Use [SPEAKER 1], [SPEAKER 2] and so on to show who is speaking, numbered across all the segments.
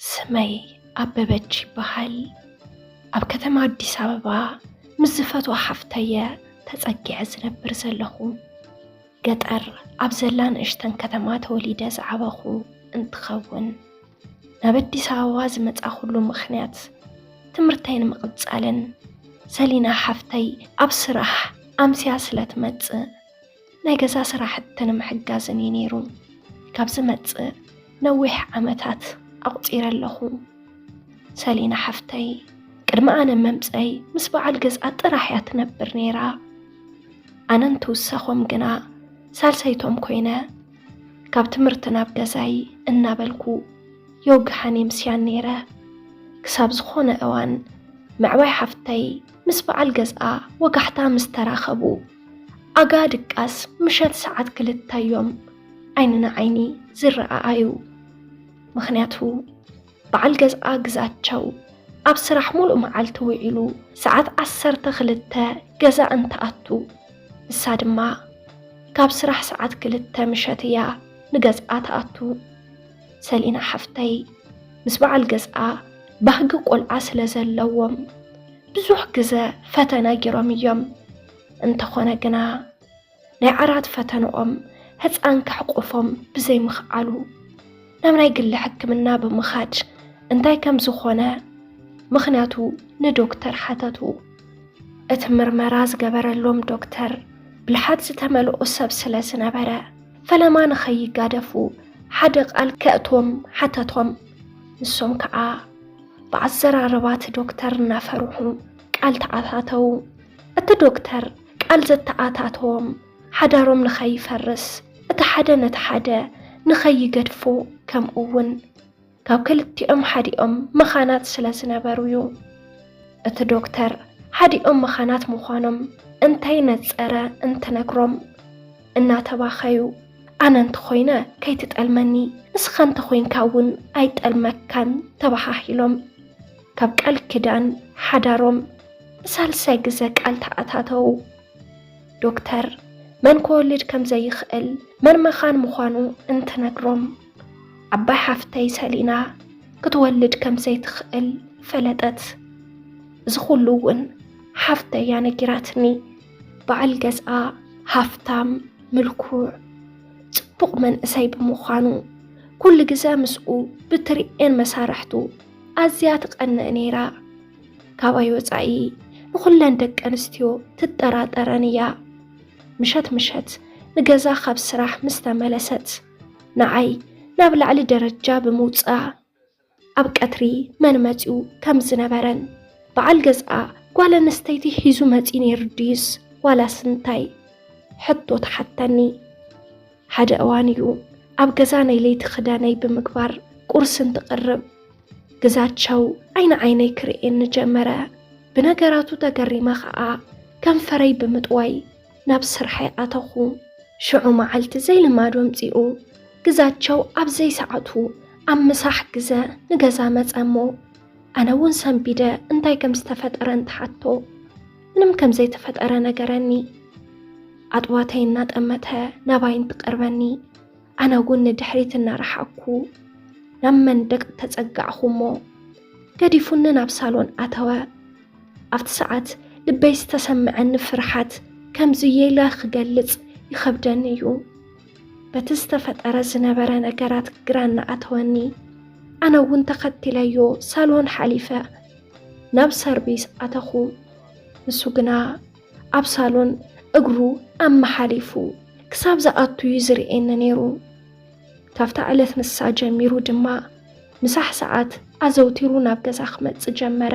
[SPEAKER 1] ስመይ ኣበበች ይበሃል። ኣብ ከተማ ኣዲስ ኣበባ ምስ ዝፈትዋ ሓፍተየ ተፀጊዐ ዝነብር ዘለኹ። ገጠር ኣብ ዘላ ንእሽተን ከተማ ተወሊደ ዝዓበኹ እንትኸውን ናብ ኣዲስ ኣበባ ዝመፃኹሉ ምኽንያት ትምህርተይ ንምቕፃልን ሰሊና ሓፍተይ ኣብ ስራሕ ኣምስያ ስለትመፅእ ናይ ገዛ ስራሕቲ ንምሕጋዝን እዩ ነይሩ ካብ ዝመፅእ ነዊሕ ዓመታት ኣቑፂረ ኣለኹ ሰሊና ሓፍተይ ቅድሚ ኣነ መምፀይ ምስ በዓል ገዝኣ ጥራሕ እያ ትነብር ነይራ ኣነ እንትውሰኾም ግና ሳልሰይቶም ኮይነ ካብ ትምህርቲ ናብ ገዛይ እናበልኩ የውግሓን የምስያን ነይረ ክሳብ ዝኾነ እዋን መዕባይ ሓፍተይ ምስ በዓል ገዝኣ ወጋሕታ ምስ ተራኸቡ ኣጋ ድቃስ ምሸት ሰዓት ክልተ እዮም ዓይኒ ንዓይኒ ዝረኣኣዩ። ምክንያቱ በዓል ገዝኣ ግዛቸው ኣብ ስራሕ ሙሉእ መዓልቲ ውዒሉ ሰዓት ዓሰርተ ክልተ ገዛ እንትኣቱ ንሳ ድማ ካብ ስራሕ ሰዓት ክልተ ምሸት እያ ንገዝኣ ትኣቱ። ሰሊና ሓፍተይ ምስ በዓል ገዝኣ ባህጊ ቆልዓ ስለ ዘለዎም ብዙሕ ግዘ ፈተነ ጌሮም እዮም። እንተኾነ ግና ናይ ዓራት ፈተንኦም ህፃን ከሕቆፎም ብዘይምኽኣሉ ናብ ናይ ግሊ ሕክምና ብምኻድ እንታይ ከም ዝኾነ ምኽንያቱ ንዶክተር ሓተቱ። እቲ ምርመራ ዝገበረሎም ዶክተር ብልሓት ዝተመልኦ ሰብ ስለ ዝነበረ ፈለማ ንኸይጋደፉ ሓደ ቃል ከእቶም ሓተቶም። ንሶም ከዓ ብኣዘራርባት ዶክተር እናፈርሑ ቃል ተኣታተዉ። እቲ ዶክተር ቃል ዘተኣታተዎም ሓዳሮም ንኸይፈርስ እቲ ሓደ ነቲ ሓደ ንኸይገድፎ ከምኡ እውን ካብ ክልቲኦም ሓዲኦም መኻናት ስለ ዝነበሩ እዩ። እቲ ዶክተር ሓዲኦም መኻናት ምዃኖም እንታይ ነጸረ እንትነግሮም እናተባኸዩ ኣነ እንተኾይነ ከይትጠልመኒ ንስኻ እንተኾይንካ እውን ኣይጠልመካን ተባሃሂሎም ካብ ቃል ኪዳን ሓዳሮም ንሳልሳይ ግዘ ቃል ተኣታተው። ዶክተር መን ክወልድ ከም ዘይኽእል መን መኻን ምዃኑ እንትነግሮም ዓባይ ሓፍተይ ሰሊና ክትወልድ ከም ዘይትኽእል ፈለጠት። እዚ ኩሉ እውን ሓፍተይ እያ ነጊራትኒ። በዓል ገዝኣ ሃፍታም፣ ምልኩዕ፣ ጽቡቕ መንእሰይ ብምዃኑ ኩሉ ግዘ ምስኡ ብትርኤን መሳርሕቱ ኣዝያ ትቐንእ ነይራ። ካባይ ወፃኢ ንኹለን ደቂ ኣንስትዮ ትጠራጠረን እያ። ምሸት ምሸት ንገዛ ካብ ስራሕ ምስ ተመለሰት ንዓይ ናብ ላዕሊ ደረጃ ብምውፅኣ ኣብ ቀትሪ መን መፂኡ ከም ዝነበረን በዓል ገዝኣ ጓል ኣንስተይቲ ሒዙ መፂ ነይሩ ድዩስ ዋላስ እንታይ ሕቶ ተሓተኒ። ሓደ እዋን እዩ ኣብ ገዛ ናይ ለይቲ ክዳነይ ብምግባር ቁርሲ እንትቕርብ ግዛቸው ዓይኒ ዓይነይ ክርእየኒ ጀመረ። ብነገራቱ ተገሪመ ከዓ ከንፈረይ ብምጥዋይ ናብ ስርሐይ ኣተኹ። ሽዑ መዓልቲ ዘይልማዱ ኣምጺኡ። ግዛቸው ኣብ ዘይሰዓቱ ኣብ ምሳሕ ግዘ ንገዛ መጸ እሞ ኣነ እውን ሰንቢደ እንታይ ከም ዝተፈጠረ እንትሓቶ ምንም ከም ዘይተፈጠረ ነገረኒ። ኣጥዋተይ እናጠመተ ናባይ እንትቀርበኒ ኣነ እውን ንድሕሪት እናረሓኩ ናብ መንደቅ ተጸጋዕኹ እሞ ገዲፉኒ ናብ ሳሎን ኣተወ። ኣብቲ ሰዓት ልበይ ዝተሰምዐኒ ፍርሓት ከምዙይ ኢለ ክገልፅ ይኸብደኒ እዩ። በቲ ዝተፈጠረ ዝነበረ ነገራት ግራ እናኣተወኒ ኣነ እውን ተኸቲለዮ ሳሎን ሓሊፈ ናብ ሰርቪስ ኣተኹ። ንሱ ግና ኣብ ሳሎን እግሩ ኣመሓሊፉ ክሳብ ዝኣቱ እዩ ዝርእየኒ ነይሩ። ካብታ ዕለት ንሳ ጀሚሩ ድማ ምሳሕ ሰዓት ኣዘውቲሩ ናብ ገዛ ክመጽእ ጀመረ።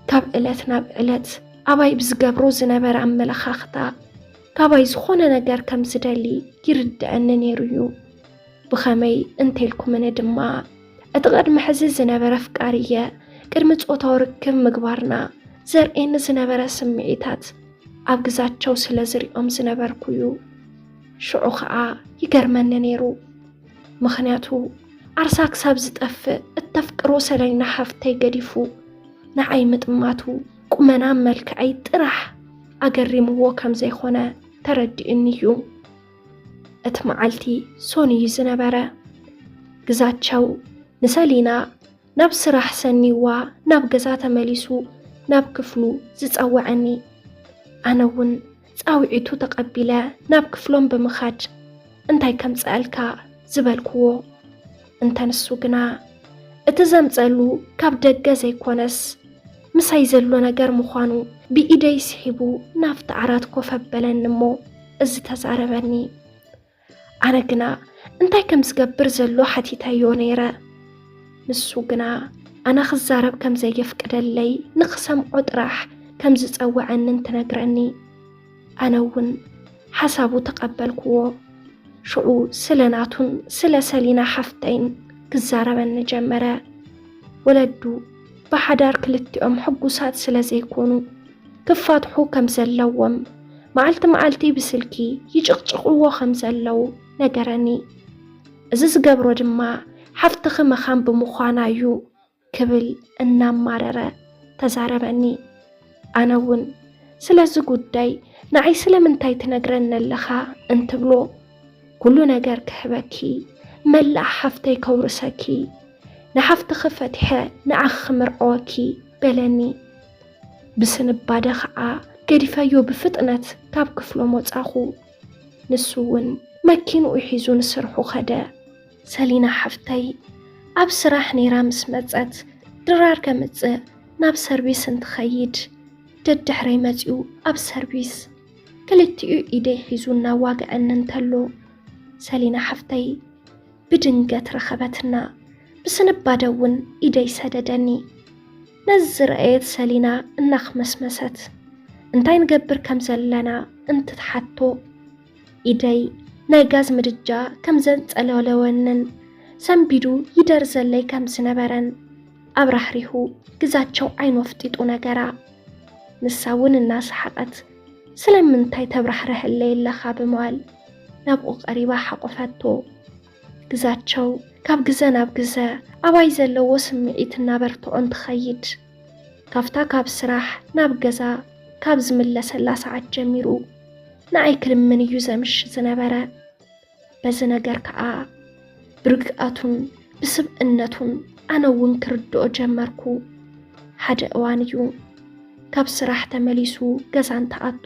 [SPEAKER 1] ካብ ዕለት ናብ ዕለት ኣባይ ብዝገብሮ ዝነበረ ኣመለኻኽታ ካባይ ዝኾነ ነገር ከም ዝደሊ ይርድአኒ ነይሩ እዩ። ብኸመይ እንተልኩምኒ ድማ እቲ ቅድሚ ሕዚ ዝነበረ ፍቃር እየ ቅድሚ ጾታዊ ርክብ ምግባርና ዘርእየኒ ዝነበረ ስምዒታት ኣብ ግዛቸው ስለ ዝሪኦም ዝነበርኩ እዩ። ሽዑ ከዓ ይገርመኒ ነይሩ ምክንያቱ ዓርሳ ክሳብ ዝጠፍእ እተፍቅሮ ሰለይና ሓፍተይ ገዲፉ ንዓይ ምጥማቱ ቁመና መልክዐይ ጥራሕ ኣገሪምዎ ከም ዘይኮነ ተረዲኡኒ እዩ እቲ መዓልቲ ሶን እዩ ዝነበረ ግዛቸው ንሰሊና ናብ ስራሕ ሰኒዋ ናብ ገዛ ተመሊሱ ናብ ክፍሉ ዝጸወዐኒ። ኣነ እውን ጻውዒቱ ተቐቢለ ናብ ክፍሎም ብምኻድ እንታይ ከምጸኣልካ ዝበልክዎ። እንተ ንሱ ግና እቲ ዘምጸሉ ካብ ደገ ዘይኮነስ ምሳይ ዘሎ ነገር ምዃኑ ብኢደይ ስሒቡ ናብቲ ዓራት ኮፍ ኣበለኒ እሞ እዚ ተዛረበኒ። ኣነ ግና እንታይ ከም ዝገብር ዘሎ ሓቲተዮ ነይረ ንሱ ግና ኣነ ክዛረብ ከም ዘየፍቅደለይ ንክሰምዖ ጥራሕ ከም ዝፀወዐንን ትነግረኒ ኣነ እውን ሓሳቡ ተቐበልክዎ ሽዑ ስለ ናቱን ስለ ሰሊና ሓፍተይን ክዛረበኒ ጀመረ ወለዱ ብሓዳር ክልቲኦም ሕጉሳት ስለ ዘይኮኑ ክፋትሑ ከም ዘለዎም መዓልቲ መዓልቲ ብስልኪ ይጭቕጭቕዎ ከም ዘለዉ ነገረኒ። እዚ ዝገብሮ ድማ ሓፍትኺ መኻን ብምዃና እዩ ክብል እናማረረ ተዛረበኒ። ኣነ እውን ስለዚ ጉዳይ ንዓይ ስለምንታይ ትነግረኒ ኣለኻ እንትብሎ ኩሉ ነገር ክህበኪ መላእ ሓፍተይ ከውርሰኪ ንሓፍትኺ ፈቲሐ ንዓኺ ክምርዐወኪ በለኒ። ብስንባደ ኸዓ ገዲፈዮ ብፍጥነት ካብ ክፍሎም ወጻኹ። ንሱ እውን መኪንኡ ሒዙ ንስርሑ ከደ። ሰሊና ሓፍተይ ኣብ ስራሕ ነይራ ምስ መጸት ድራር ከምጽእ ናብ ሰርቪስ እንትኸይድ ደድሕረይ መጺኡ ኣብ ሰርቪስ ክልቲኡ ኢደይ ሒዙ እናዋግዐኒ እንተሎ ሰሊና ሓፍተይ ብድንገት ረኸበትና። ብስንባደ እውን ኢደይ ሰደደኒ። ነዚ ዝረኣየት ሰሊና እናኽመስመሰት እንታይ ንገብር ከም ዘለና እንትትሓቶ ኢደይ ናይ ጋዝ ምድጃ ከም ዘንጸለለወንን ሰንቢዱ ይደርዘለይ ከም ዝነበረን ኣብራህሪሁ ግዛቸው ዓይኑ ኣፍጢጡ ነገራ። ንሳ እውን እናሰሓቐት ስለምንታይ ተብራህርሀለይ ኣለኻ ብምባል ናብኡ ቀሪባ ሓቆፈቶ። ግዛቸው ካብ ግዘ ናብ ግዘ ኣባይ ዘለዎ ስምዒት እናበርትዖን ትኸይድ። ካብታ ካብ ስራሕ ናብ ገዛ ካብ ዝምለሰላ ሰዓት ጀሚሩ ንኣይ ክልምን እዩ ዘምሽ ዝነበረ። በዚ ነገር ከዓ ብርግኣቱን ብስብእነቱን ኣነ እውን ክርድኦ ጀመርኩ። ሓደ እዋን እዩ ካብ ስራሕ ተመሊሱ ገዛ እንትኣቱ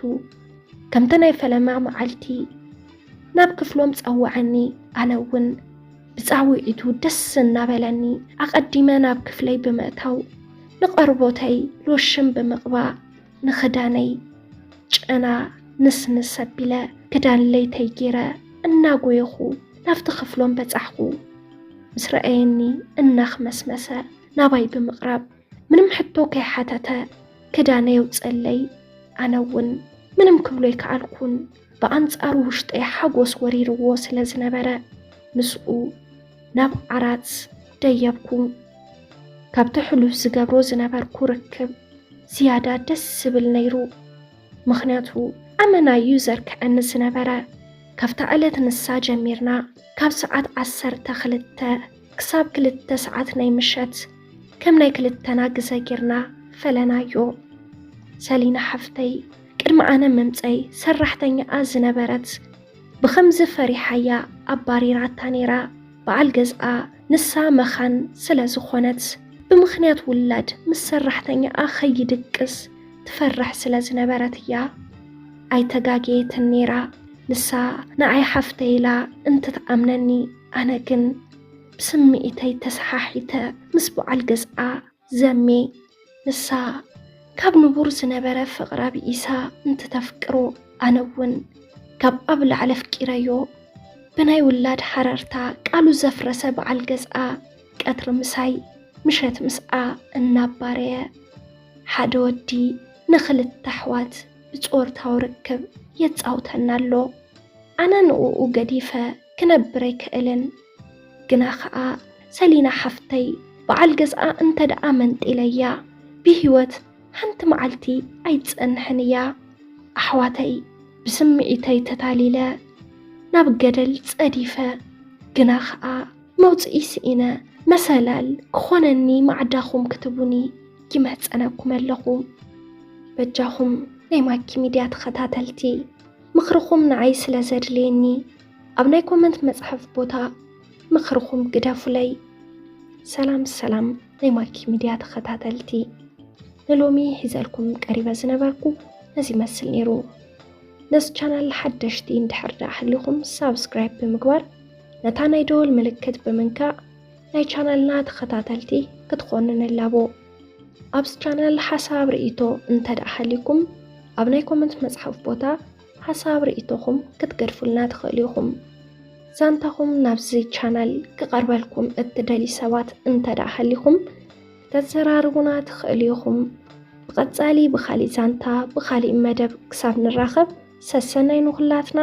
[SPEAKER 1] ከምቲ ናይ ፈለማ መዓልቲ ናብ ክፍሎም ጸወዐኒ። ኣነ እውን ብጻውዒቱ ደስ እናበለኒ ኣቐዲመ ናብ ክፍለይ ብምእታው ንቐርቦተይ ሎሽን ብምቕባእ ንኽዳነይ ጨና ንስንስ ኣቢለ ክዳን ለይተይ ገይረ እናጎየኹ ናብቲ ክፍሎም በጻሕኹ። ምስ ረኣየኒ እናኽመስመሰ ናባይ ብምቕራብ ምንም ሕቶ ከይሓተተ ክዳነይ የውፀለይ። ኣነ እውን ምንም ክብሎ ኣይከኣልኩን። ብኣንጻሩ ውሽጠይ ሓጎስ ወሪርዎ ስለ ዝነበረ ምስኡ ናብ ዓራት ደየብኩ። ካብቲ ሕሉፍ ዝገብሮ ዝነበርኩ ርክብ ዝያዳ ደስ ዝብል ነይሩ። ምኽንያቱ ኣመና እዩ ዘርክዐኒ ዝነበረ። ካብታ ዕለት ንሳ ጀሚርና ካብ ሰዓት ዓሰርተ ክልተ ክሳብ ክልተ ሰዓት ናይ ምሸት ከም ናይ ክልተና ግዘ ጌርና ፈለናዮ። ሰሊና ሓፍተይ ቅድሚ ኣነ ምምጸይ ሰራሕተኛኣ ዝነበረት ብኸምዚ ፈሪሓያ ኣባሪራታ ነይራ። በዓል ገዝኣ ንሳ መኻን ስለ ዝኾነት ብምኽንያት ውላድ ምስ ሰራሕተኛኣ ከይድቅስ ትፈርሕ ስለ ዝነበረት እያ። ኣይተጋገየትን ነይራ። ንሳ ንዓይ ሓፍተይ ኢላ እንትትኣምነኒ ኣነ ግን ብስምዒተይ ተሰሓሒተ ምስ በዓል ገዝኣ ዘሜ ንሳ ካብ ንቡር ዝነበረ ፍቕራ ብኢሳ እንትተፍቅሮ ኣነ እውን ካብ ኣብ ላዕሊ ኣፍቂረዮ ብናይ ውላድ ሓረርታ ቃሉ ዘፍረሰ በዓል ገዝኣ ቀትሪ ምሳይ ምሸት ምስኣ እናባረየ ሓደ ወዲ ንክልተ ኣሕዋት ብጾርታዊ ርክብ የጻውተና ኣሎ ኣነ ንኡ ገዲፈ ክነብር ኣይክእልን ግና ኸኣ ሰሊና ሓፍተይ በዓል ገዝኣ እንተደኣ መንጢለያ ብሂወት ሓንቲ መዓልቲ ኣይትጸንሕን እያ። ኣሕዋተይ ብስምዒተይ ተታሊለ ናብ ገደል ጸዲፈ ግና ኸኣ መውጽኢ ስኢነ መሰላል ክኾነኒ ማዕዳኹም ክትቡኒ ይምሕጸነኩም ኣለኹ። በጃኹም ናይ ማኪ ሚድያ ተኸታተልቲ ምኽርኹም ንዓይ ስለ ዘድልየኒ ኣብ ናይ ኮመንት መፅሓፍ ቦታ ምኽርኹም ግደፉለይ። ሰላም ሰላም ናይ ማኪ ሚድያ ተኸታተልቲ፣ ንሎሚ ሒዘልኩም ቀሪበ ዝነበርኩ ነዚ ይመስል ነይሩ። ነዚ ቻናል ሓደሽቲ እንድሕር ደኣ ሃሊኹም ሳብስክራይብ ብምግባር ነታ ናይ ደወል ምልክት ብምንካእ ናይ ቻናልና ተኸታተልቲ ክትኾኑ ንላቦ። ኣብዚ ቻናል ሓሳብ ርእይቶ እንተ ደኣ ሃሊኩም ኣብ ናይ ኮመንት መፅሓፍ ቦታ ሓሳብ ርኢቶኹም ክትገድፉልና ትኽእሉ ኢኹም። ዛንታኹም ናብዚ ቻናል ክቐርበልኩም እትደልዩ ሰባት እንተደኣ ሃሊኹም ከተዘራርቡና ትኽእሉ ኢኹም። ብቐጻሊ ብኻሊእ ዛንታ ብኻሊእ መደብ ክሳብ ንራኸብ ሰሰናይ ንኹላትና።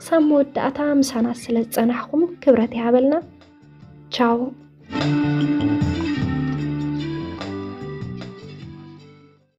[SPEAKER 1] ክሳብ መወዳእታ ምሳና ስለ ዝጸናሕኹም ክብረት ይሃበልና። ቻው